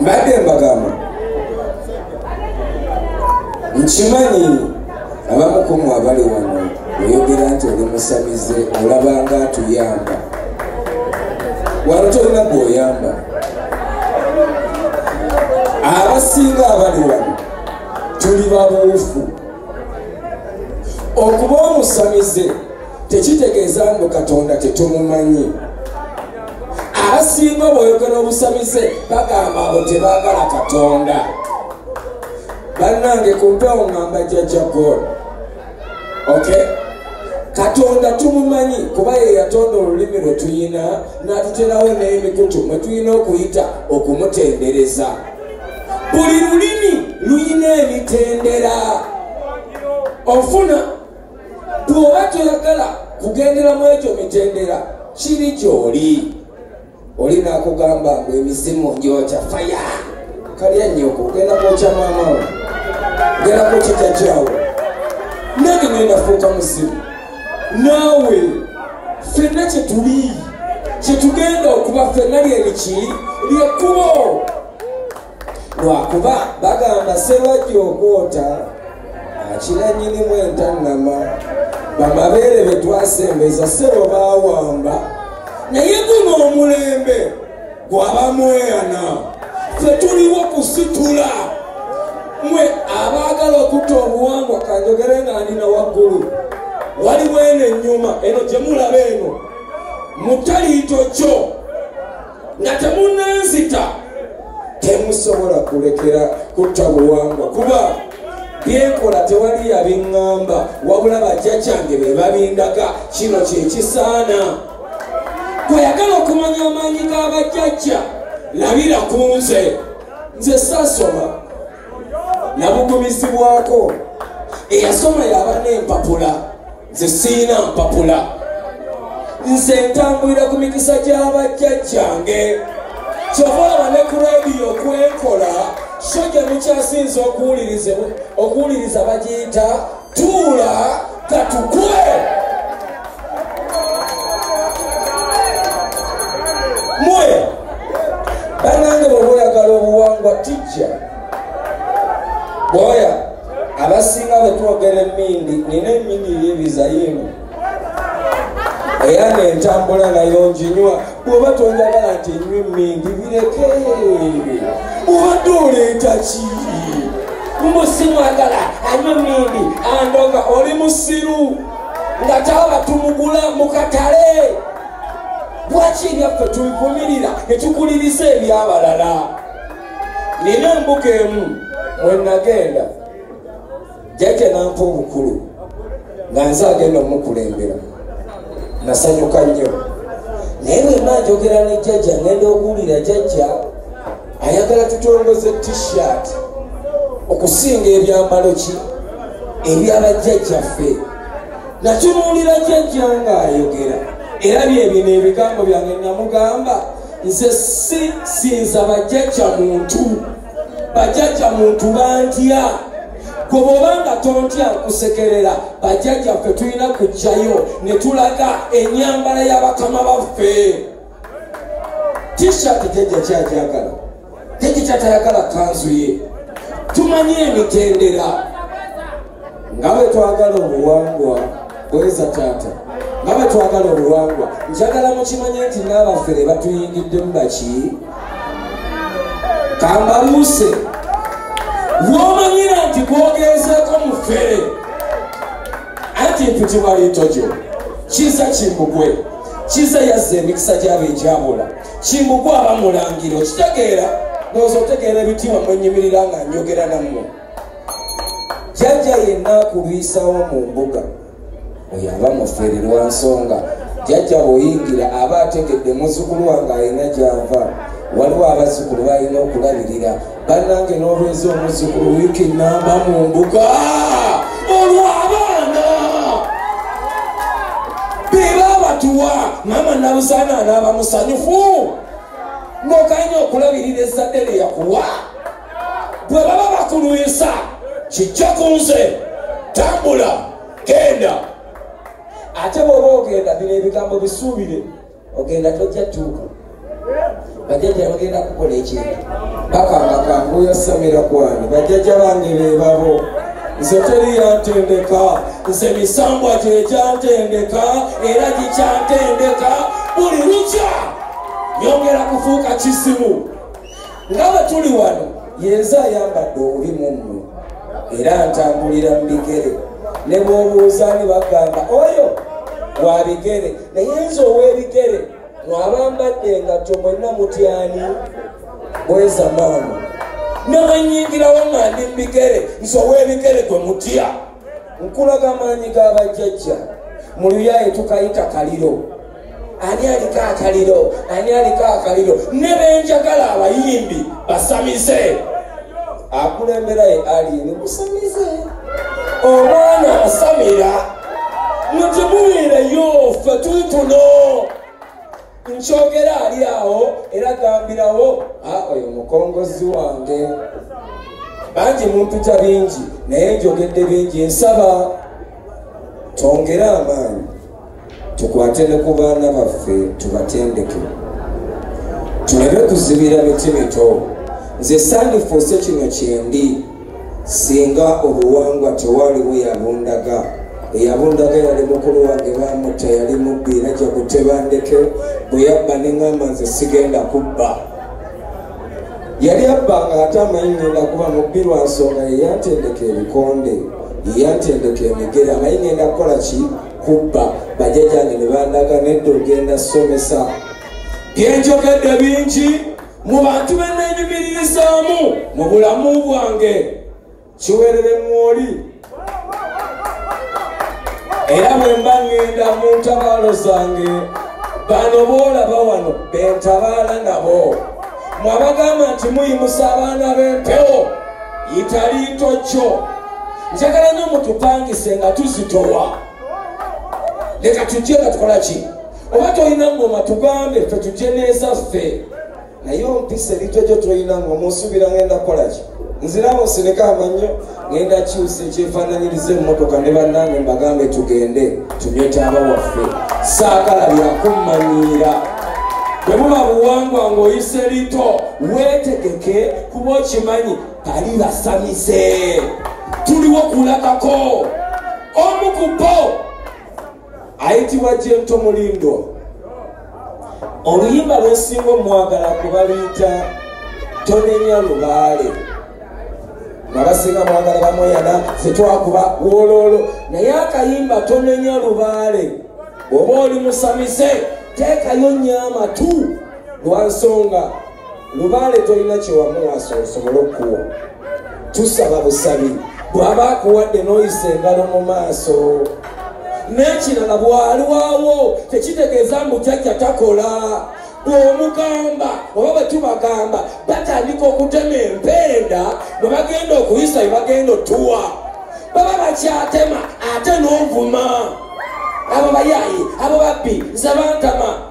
mbadde mbagamba nkimanyi abamukumu abali wano oyogera nti oli musamize olabanga atuyamba wano tolina gweoyamba abasinga abali wano tuli babuufu okuba omusamize tekitegeeza mbu katonda tetumumanyi abasinga obwoyogera obusamize bagamba abo tebagala katonda bannange ku mpewo ngamba jajja god ok katonda tumumanyi kuba ye yatonda olulimi lwe tuyina n'atuterawo n'emikutu mwe tulina okuyita okumutendereza buli lulimi luyina emitendera ofuna bw'oba toyagala kugendera mu egyo mitendera kiri gy'oli oli naakugamba mbu emizimu ngyokya faya kalya nyoko genda kwokya maamawo genda kwokya jajjawo nange ngenafuuka muzimu naawe fenna kyetuli kyetugenda okuba fenna lyeriki lyekkubo lwakuba bagamba serwajja okwota akira nyinimu entannama bamabeere betwasembeza sebo bawamba naye guno omulembe gwabamweyana fetuliwo kusitula mwe abaagala okutta obuwangwa kanjogere nga ndina waggulu waliwo eno ennyuma eno gyemulaba eno mutaliito kyo nga temunanzita temusobola kulekera kutta buwangwa kuba byenkola tewali yabiŋŋamba wabula bajja kyange be babindaga kino kyekisaana kweyagala okumanya amaanyi g'abajjajja labira ku nze nze saasoma nabugumizibwako eyasoma yabana empapula nze siyina mpapula nze ntambulira ku mikisa gy'abajjajjange kyova olaba ne ku radiyo kwenkola so gye mukyasinza okuwuliriza bagiyita tuula katukwe mwe banange bwebaoyagala obuwangwa tijja bwoya abasinga bwe twogera emmindi nina emmindi yibiza yino era nentambula nayo njinywa bwoba tonjagala nti nywa emmindi bireke obadde oleeta ki mbusimwagala anywa emmindi andoga oli musiru nga taba tumugula mu katale lwaki ebyaffe tubivumirira ne tukuliriza ebyabalala nina embuga emu mwe nagenda jajja nampa obukulu nga nze agenda omukulembera nasanyuka nnyo naye bwenna njogera ne jajja ngenda okuwulira jajja ayagala tutongoze t-shirt okusinga ebyambalo ki ebyabajjajjaffe nakimuwulira jajja nga ayogera era byebino ebigambo byange namugamba nze si sinza bajjajja muntu bajjajja muntu bantya gwe bwoba nga tontya nkusekerera bajjajja ffe tulina kujjayo ne tulaga enyambala y'abakama baffe tishat jajja kyajagala tekikyatayagala kanzu ye tumanyi emitendera nga bwe twagala obuwangwa bweza taata nga bwe twagala obuwangwa njagala mukimanye nti n'abafere batuyingiddemu baki kambaluuse womanyira nti gwogeezeeko mufere anti mpitibwaliitojo kiza kimbugwe kiza yazza emikisa gyabo egyabula kimbugwe abamulangira okitegeera noza otegeera ebitiibwa mwenyimirira nga njogera nammwe jajja yenna akulwisawo mu mbuga oyo aba mufere lwa nsonga jajja bweyingira aba ategedde muzukulu wange alina gyava waliwo abazukulu balina okulabirira bannange n'obwenzi omuzzukulu wiiki namba mu mbuga olw'abaana be baabatuwa maama nabuzaana anaaba musanyufu n'oganya okulabirira ezzadde lye yakuwa bwe baba bakulwisa kijja ku nze tambula genda ate bw'oba ogenda bino ebigambo bisuubire ogenda tojja tuuka bajjajja bagenda kukola ekintu bakanga kanguya samira kwani bajjajja bange bebabo nze teri yantendeka nze misambwa gyegyantendeka era gikyantendeka buli lukya nyongera kufuuka kisimu nga bwe tuli wano yenze ayambadde obubi mu mmwe era ntambulira mu bigere ne bwobuuza ni bagamba oyo wa bigere naye nze ow'ebigere mwabambadde engatto mwenna mutyani bweza maama ne bwenyingirawo nga ndi mu bigere nze ow'ebigere gwe mutya nkulaga amaanyi ga bajjajja mu luyaaye tukayita kaliro ani aliko akaliro ani aliko akaliro ne benjagala abayimbi basamize akulembera ye aliini musamize omwana asamira mwe temuwulireyo ffe tutuno nkyogera ali awo era gambirawo oyo mukongozi wange bangi mumputa bingi naye njogedde bingi nsaba twongere amaanyi tukwate ne ku baana baffe tubatendeke tulabe kuzibira miti mito nze sandifuuse kino kyendi singa obuwangwa tewaliwo yabundaga eyabundaga yali mukulu wange bamutta yali mubbi era jagutebandeke bwe yabba neŋamba nze sigenda kubba yali abba nga ate amanyi ngenda kuba mubbi lwa nsonga yeyantendeka ebikonde yeyantendeka emigere amanyi ngenda kukola ki kubba bajajange ne bandaga nedda ogenda somesa byenjogedde bingi mu bantu be neenyumiririzaamu mu bulamu bwange kiweerere mwoli era bwe mba ŋŋenda mu ntabaalo zange bano boolaba wano be ntabaala nabo mwabagamba nti muyimusa abaana b'empewo yitaliito kyo njagala nyo mutupangise nga tuzitowa leka tujje nga tukola ki oba tolina ngoma tugambe fe tujje neeza ffe naye ompisa ebintu egyo tolina ngoma osuubira ngenda kukola ki nziramu nsireka amannyo ngenda kyusa ekyefaananyiriza emmotoka ne bannange mbagambe tugende tunywe taaba waffe saagala byakummanyiira bwe buba buwangwa ng'oyise lito weetegeke kuba okimanyi ali basamise tuliwo kulabako omu ku bo ayitibwa jento mulindo oluyimba lwesinga omwagala kubaluyita tonenya lubaale abasinga mwagala bamweyana fetwakuba wololo naye akayimba tonenya lubaale oba oli musamise teekayo nyo amatu lwansonga lubaale tolina kyewamuwasa osobole okuwa tusaba busabi bwaba akuwadde noyisa engalo mu maaso n'ekirala bwaliwawo tekitegeeza mbu jajja takola bwomugamba oba bwetubagamba batandika okutema empenda bwebagenda okuyisa bebagenda otuwa baba bakyatema ate novuma abo bayayi abo babbi nze bantama